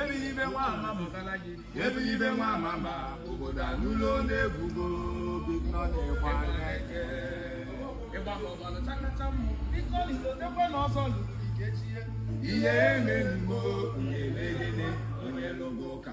ebilibe nwa ama mụtara gị ebilibe nwa ama ma obodo anụlo na-ebugo big money gba n'eke ihe emelugo na-emegide onye lụgo ụka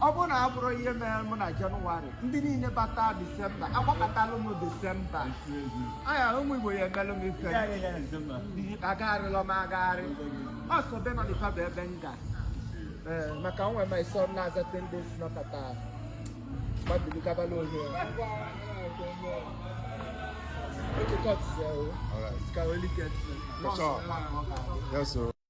ọ bụrụ na a bụrụ ihe mere mụ na jenụwarị ndị niile bata disemba agbakọtalụ m disemba anya ụmụ igbo ya emelụ m ife agagharịla m agagharị ọ sọ be ndị afa bụ ebe m ga ee maka onwe m iso na-aza tendes nọkọta gbabili gabala ohe Okay, cut. So, All right. it's Carolic. Yes, sir.